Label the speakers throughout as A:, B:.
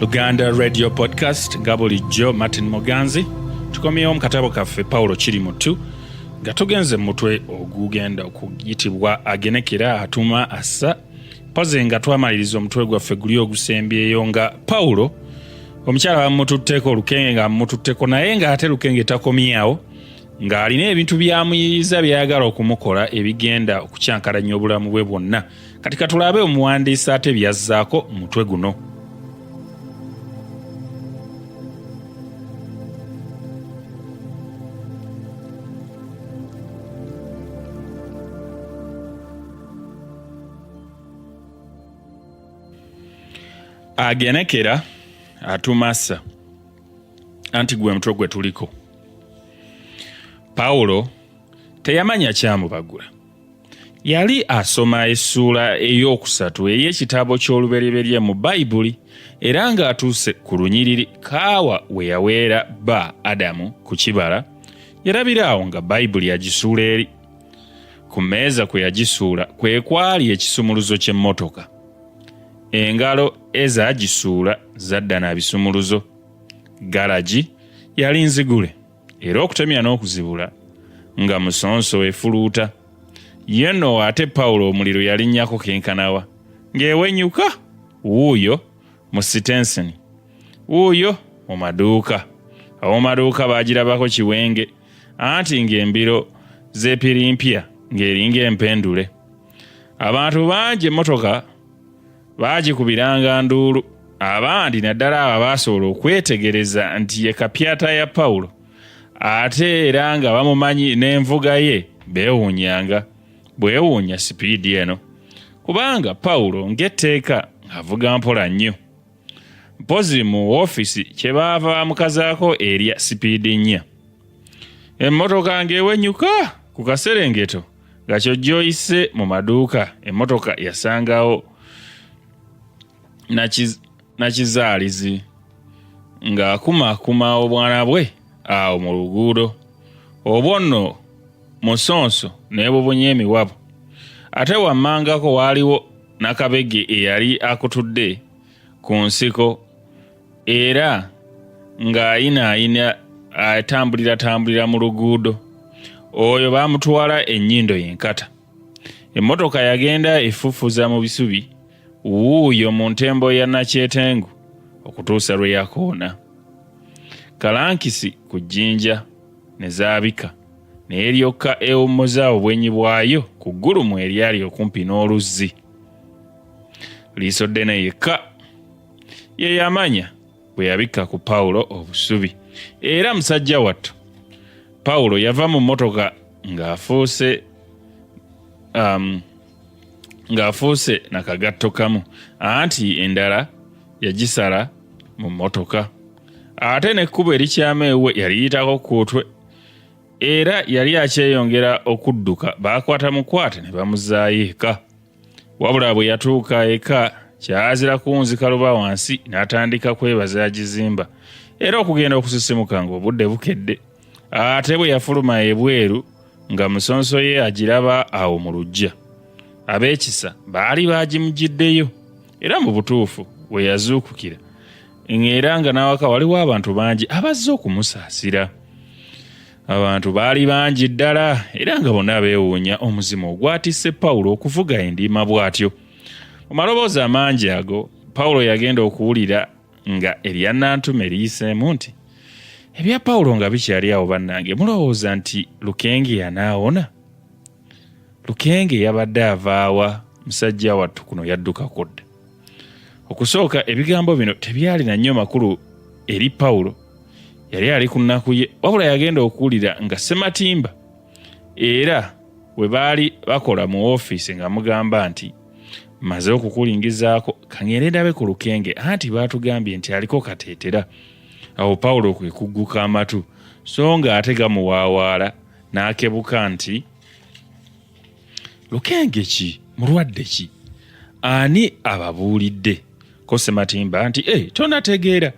A: luganda radio podcast nga bulijjo martin muganzi tukomyewo mu katabo kaffe pawulo kiri mutu nga tugenze mumutwe ogugenda okuyitibwa agenekera atuma assa poze nga twamaliriza omutwe gwaffe guli ogusembyeyo nga pawulo omukyala bamututteko olukenge nga mututteko naye nga ate lukenge takomyawo ng'alina ebintu byamuyiyiza byayagala okumukola ebigenda okukyankalanya obulamu bwe bwonna kati katulabe omuwandiisi ate byazzaako mutwe guno agenekera atumasa anti gwe mutwe gwe tuliko pawulo teyamanya kyamubagula yali asoma essuula ey'okusatu ey'ekitabo ky'olubereberye mu bayibuli era ng'atuuse ku lunyiriri kaawa we yaweera bba adamu ku kibala yarabira awo nga bayibuli yagisuula eri ku mmeeza kwe yagisuula kwe kwali ekisumuluzo ky'emmotoka engalo eza gisuula zadda na bisumuluzo garagi yali nzigule era okutemya n'okuzibula nga musonso efuluuta ye no ate pawulo omuliro yalinnyako kenkanawa ng'ewenyuka wuuyo mu sitenseni wuuyo mu maduuka ab'omaduuka baagirabako kiwenge anti ng'embiro z'epirimpya ng'eringa empendule abantu bangi emmotoka baagikubiranga nduulu abandi naddala abo abaasobola okwetegereza nti ye kapyata ya pawulo ate era nga bamumanyi n'envuga ye beewuunyanga bwewuunya sipiidi eno kubanga pawulo ng'etteeka avuga mpola nnyo mpozi mu ofiisi kye baava bamukazaako erya sipiidi nnya emmotoka ng'ewenyuka ku kaserengeto nga kyojjoyise mu maduuka emmotoka yasangawo nakizaalizi ng'akumakuma obwana bwe awo mu luguudo obwo nno musonso nebubunye emiwabo ate wammangako waaliwo Nakabege eyali akutudde ku nsiko era ng'ayinaayina atambuliratambulira mu luguudo oyo baamutwala ennyindo yenkata emmotoka yagenda efufuza mu bisubi wuuyo mu ntembo ya nakyetengu okutuusa lwe yakoona kalankisi ku jjinja ne zaabika naye lyokka ewummuza obwenyi bwayo ku ggulumu eryali okumpi n'oluzzi liiso ddene yekka ye yamanya bwe yabikka ku pawulo obusubi era musajja wattu pawulo yava mu mmotoka ng'afuuse um, ng'afuuse na kagatto kamu anti endala yagisala mu mmotoka ate n'ekkubo erikyama ewuwe yaliyitako ku kutwe era yali akyeyongera okudduka baakwata mukwate ne bamuzaayo eka wabula bwe yatuuka eka kyazira kunzika luba wansi n'atandika kwebaza agizimba era okugenda okusisimuka ng'obudde bukedde ate bwe yafuluma ebweru nga musonso ye agiraba awo mu lujja ab'ekisa baali baagimugiddeyo era mu butuufu we yazuukukira ng'era nga n'awaka waliwo abantu bangi abazze okumusaasira abantu baali bangi ddala era nga bonna beewuunya omuzimu ogwatisse pawulo okuvuga endiima bw'atyo mu maloboozi amangi ago pawulo yagenda okuwulira nga eryannantume liyiseemu nti ebya pawulo nga bikyali awo bannange mulowooza nti lukenge yanaawona lukenge yabadde avaawa musajja wattu kuno yadduka kudda okusooka ebigambo bino tebyalina nnyo makulu eri pawulo yali ali ku nnaku ye wabula yagenda okuwulira nga sematimba era we baali bakola mu ofiisi nga mugamba nti maze okukulingizaako kangende ndabe ku lukenge anti baatugambye nti aliko kateetera awo pawulo kwe kugguka amatu so nga ate gamuwaawaala n'akebuka nti lukenge ki mulwadde ki ani ababuulidde ko sematimba nti e eh, tonategeera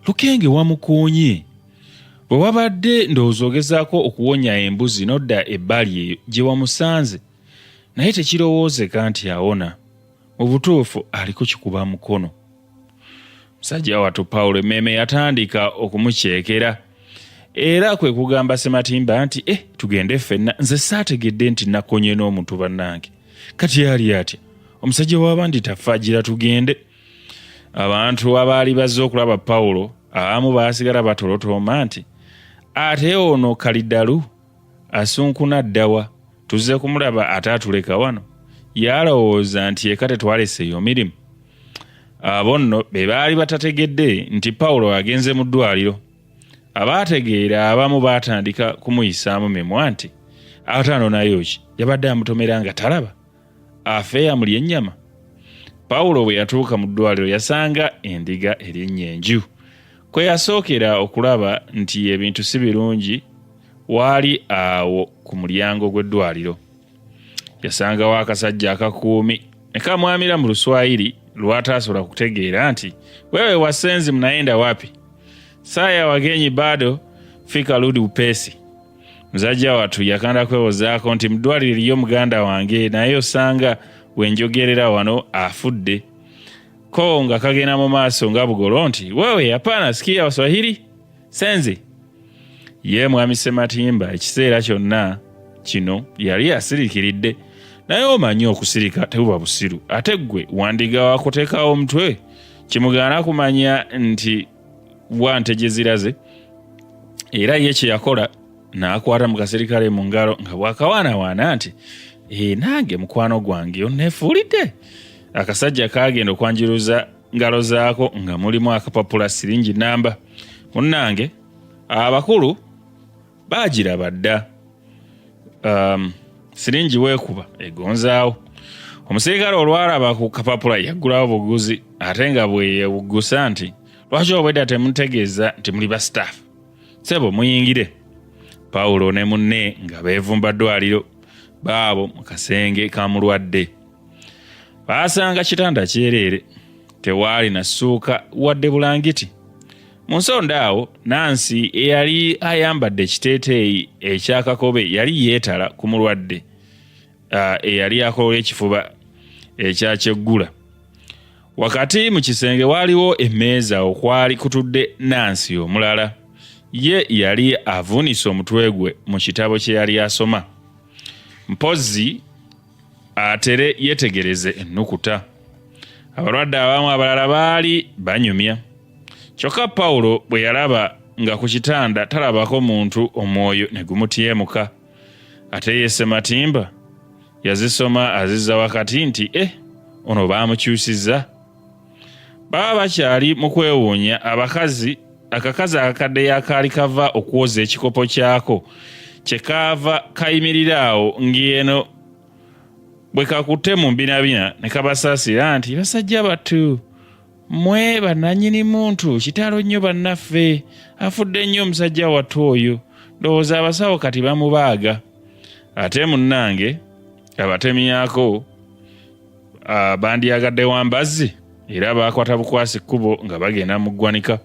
A: lukenge wamukuunye bwe wabadde ndowooza ogezaako okuwonya embuzi nodda ebbali eyo gye wamusanze naye tekirowoozeka nti awona mu butuufu ali kukikuba mukono musajja wattu pawulo emmeeme yatandika okumukyekera era kwe kugamba sematimba nti e tugende ffenna nze saategedde nti nakonye n'omuntu bannange kati yali atya omusajja w'abandi tafaagira tugende abantu abaali bazze okulaba pawulo abamu baasigala batolotooma nti ate ono kalidalu asunkuna ddawa tuzze kumulaba ate atuleka wano yalowooza nti eka tetwaleseeyo mirimu abo nno be baali batategedde nti pawulo agenze mu ddwaliro abaategeera abamu baatandika kumuyisaamu mimwa nti ataano nayo ki yabadde amutomera nga talaba afe yamulya ennyama pawulo bwe yatuuka mu ddwaliro yasanga endiga erinnya enju kwe yasookera okulaba nti ebintu si birungi waali awo ku mulyango gw'eddwaliro yasangawo akasajja akakuumi ne kamwamira mu luswayiri lw'ataasobola kutegeera nti wewe wasenzi mnaenda wapi saa ya wagenyi bado fika ludi upesi Muzajja wattu yakanda kwewozaako nti mu ddwaliro eriyo muganda wange naye osanga we njogerera wano afudde. Ko nga kagenda mu maaso nga bugolo nti wewe hapana sikia waswahili senzi. Ye mwami Sematimba ekiseera kyonna kino yali asirikiridde naye omanyi okusirika tebuba busiru ate ggwe wandiga wakutekawo omutwe kimugaana kumanya nti wa nte gye ziraze era ye kye yakola n'akwata mu kaserikale mu ngalo nga bw'akawaanawaana nti ee eh, nange mukwano gwange oneefuulidde akasajja kaagenda okwanjiruza ngalo zaako nga mulimu akapapula siringi namba munnange abakulu baagiraba dda um, siringi weekuba egonzaawo omusirikale olwalaba ku kapapula yaggulawo buguzi ate nga bweyewuggusa nti lwaki obwedda temutegeeza nti muli ba staff sebo muyingire pawulo ne munne nga beevumba ddwaliro baabo mu kasenge ka mulwadde baasanga kitanda kyereere tewaali na ssuuka wadde bulangiti Mu nsonda awo Nansi eyali ayambadde ekiteeteeyi ekya kakobe yali yeetala ku mulwadde uh, eyali akolola ekifuba ekya kyeggula. Wakati mu kisenge waaliwo emmeeza okwali kutudde Nansi omulala. Ye yali avuunise omutwe gwe mu kitabo kye yali asoma. Mpozzi atere yetegereze ennukuta abalwadde abamu abalala baali banyumya kyokka pawulo bwe yalaba nga ku kitanda talabako muntu omwoyo ne gumutyemuka ate yese matimba yazisoma azizza wakati nti e eh, ono baamukyusizza baba bakyali mu kwewuunya abakazi akakazi akakadde yakaali kava okwoza ekikopo kyako kye kaava kayimirira awo ng'eno bwe kakutte mu mbinabina ne kabasaasira nti basajja battu mwe bannanyini muntu kitalo nnyo bannaffe afudde nnyo omusajja wattu oyo ndowooza abasawo kati bamubaaga ate munnange abatemyako Ah, bandyagadde wa mbazzi era baakwata bukwasi kkubo nga bagenda mu ggwanika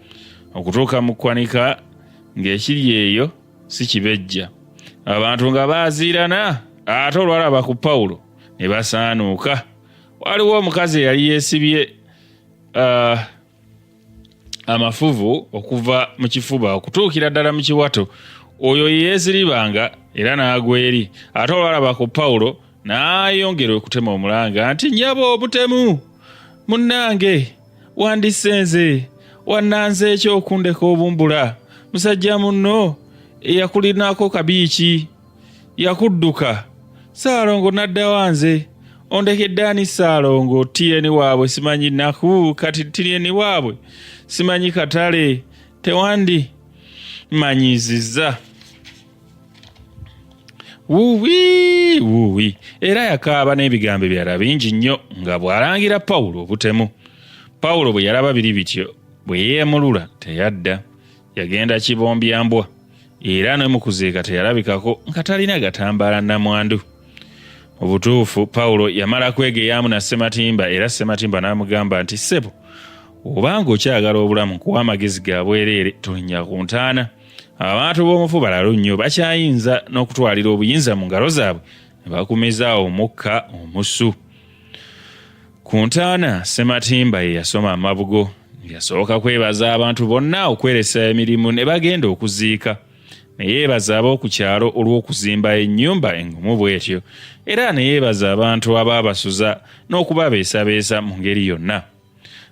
A: okutuuka mu kkwanika ng'ekiri eyo si kibejja abantu nga baaziirana ate olwalaba ku pawulo ne basaanuuka waliwo omukazi eyali yeesibye ah, amafuvu okuva mu kifuba okutuukira ddala mu kiwato oyo yeeziribanga era n'agwa eri ate olwalaba ku pawulo n'ayongera okutema omulanga nti nyaba obutemu munnange wandisenze wannanze ekyokundeka obumbula musajja munno eyakulinako kabiiki yakudduka saalongo n'addawa nze ondekedde ani saalongo tiyeni waabwe simanyi naku kati tiyeni waabwe simanyi katale tewandi manyiziza wuwi wuwi era yakaaba n'ebigambo ebyala bingi nnyo nga bw'alangira pawulo obutemu pawulo bwe yalaba biri bityo bwe yeemulula teyadda yagenda kibombya mbwa era ne mu kuziika teyalabikako nga talina gatambaala namwandu mu butuufu pawulo yamala kwegeyaamu na ssematimba era ssematimba n'amugamba nti ssebo obanga okyagala obulamu kuwa amagezi ga bwereere tolinnya ku ntaana abantu b'omufu balalu nnyo bakyayinza n'okutwalira obuyinza mu ngalo zaabwe ne bakumizaawo omukka omusu Ku ntaana, Ssematimba ye yasoma amabugo. Yasooka kwebaza abantu bonna okweresa emirimu ne bagenda okuziika ne yeebaza ab'oku kyalo olw'okuzimba ennyumba engumu bw'etyo era ne yeebaza abantu abaabasuza n'okubabeesabeesa mu ngeri yonna.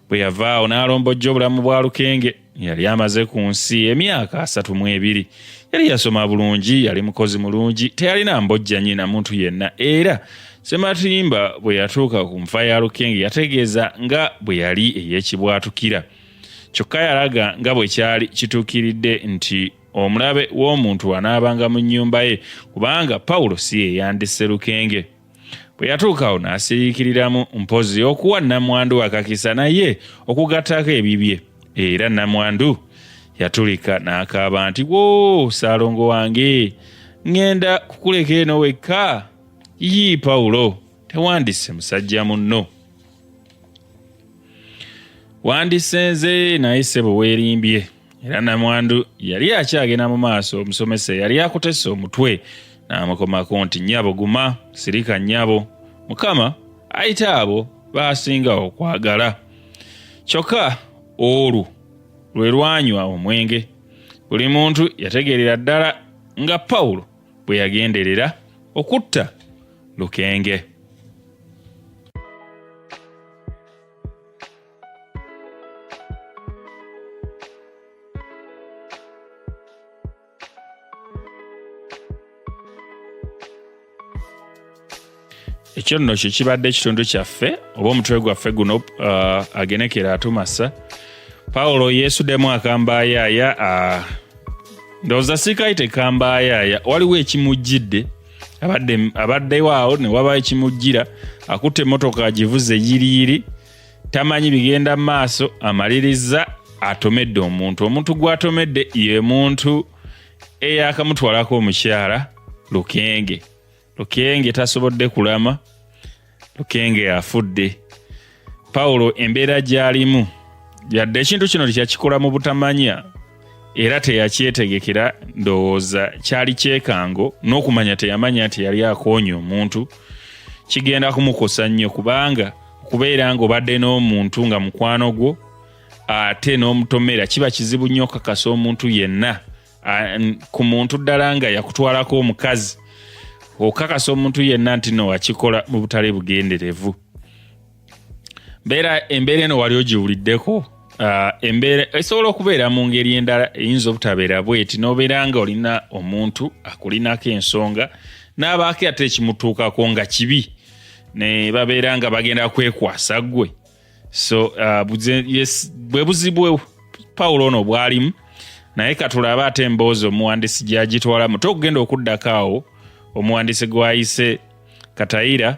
A: Bwe yavaawo n'alombojja obulamu bwa Lukenge. yali amaze ku nsi emyaka asatu mu ebiri yali yasoma bulungi yali mukozi mulungi teyalina mbojjanyi na muntu yenna era sematimba bwe yatuuka ku nfa ya lukenge yategeeza nga bwe yali ey'ekibwatukira kyokka yalaga nga bwe kyali kituukiridde nti omulabe w'omuntu anaabanga mu nnyumba ye kubanga pawulo si yeyandisse lukenge bwe yatuukawo n'asiriikiriramu mpozzi okuwa nnamwandu akakisa naye okugattako ebibye era nnamwandu yatulika n'akaaba nti wo saalongo wange ŋŋenda kukuleka eno wekka yii pawulo tewandisse musajja munno wandisenze naye sebo weerimbye era namwandu yali akyagenda mu maaso omusomesa yali akutese omutwe n'amukomako nti nyabo guma sirika nyabo mukama ayita abo baasinga okwagala kyokka olwo lwe lwanywa omwenge buli muntu yategeerera ddala nga pawulo bwe yagenderera okutta lukenge ekyo nno kye kibadde ekitundu kyaffe oba omutwe gwaffe guno uh, agenekera atumasa pawulo yeesudemu akambayaaya uh, ndowooza sikai tekambayaaya waliwo ekimujjidde abaddeyo awo ne waba ekimujjira akutte emmotoka agivuze yiriyiri tamanyi bigenda mu maaso amalirizza atomedde omuntu omuntu gwatomedde ye muntu eyakamutwalako omukyala lukenge lukenge tasobodde kulama lukenge afudde pawulo embeera gyalimu yadde ekintu kino tekyakikola mu butamanya era teyakyetegekera ndowooza kyali kyekango n'okumanya teyamanya nti yali akoonya omuntu kigenda kumukosa nnyo kubanga okubeera nga obadde n'omuntu nga mukwano gwo ate n'omutomera kiba kizibu nnyo okakasa omuntu yenna ku muntu ddala nga yakutwalako omukazi okakasa omuntu yenna nti no wakikola mu butale bugenderevu mbeera embeera eno wali ogiwuliddeko uh, embeera esobola okubeera mu ngeri endala eyinza obutabeera bweti nobeera nga olina omuntu akulinako ensonga n'abaako ate ekimutuukako nga kibi ne babeera nga bagenda kwekwasa gwe so uh, bwe buzibu pawulo ono bwalimu naye katulabe ate emboozi omuwandisi gyagitwalamu tokugenda okuddako awo omuwandisi gwayise katayira